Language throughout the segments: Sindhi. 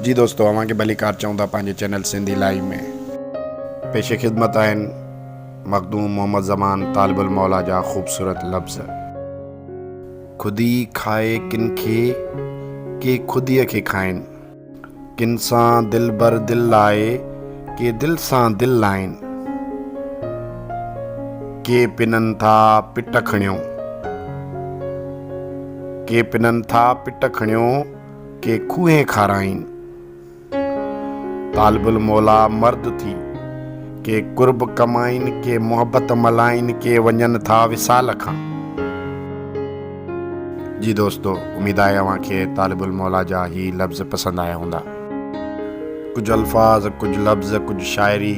جي دوستو اوهان کي ڀليڪار چئون ٿا پنهنجي چينل سنڌي لائيو ۾. پيش خدمت آهن مخدوم محمد زمان طالب الموليٰ جا خوبصورت لفظ. خودي کائي ڪن کي، ڪي خوديء کي کائين. ڪن سان دلبر دل لائي، ڪي دل سان دل لائين. ڪي پنن ٿا پٽ کڻيو. ڪي پنن ٿا پٽ کڻيو، ڪي کوهين کارائين. طالب الموليٰ مرد ٿي، ڪي قرب ڪمائين، ڪي محبت ملائين، ڪي وڃن ٿا وصال کان. جي دوستو اميد آهي اوهان کي طالب الموليٰ جا هي لفظ پسند آيا هوندا. ڪجهه الفاظ، ڪجهه لفظ، ڪجهه شاعري،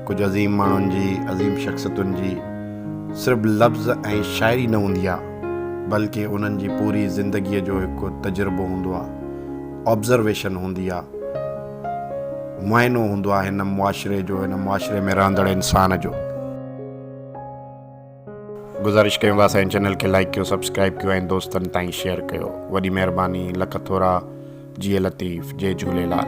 ڪجهه عظيم ماڻهن جي، عظيم شخصيتن جي صرف لفظ ۽ شاعري نه هوندي آهي. بلڪ انهن جي پوري زندگيء جو هڪ تجربو هوندو آهي، Observation هوندي آهي، معائنو هوندو آهي هن معاشري جو، هن معاشري ۾ رهندڙ انسان جو. گذارش ڪيون ٿا اسان جي چينل کي لائيڪ ڪيو سبسڪرائيب ڪيو ۽ دوستن تائين شيئر ڪيو وڏي مهرباني لک ٿورا جيئي لطيف جي جهوليلال.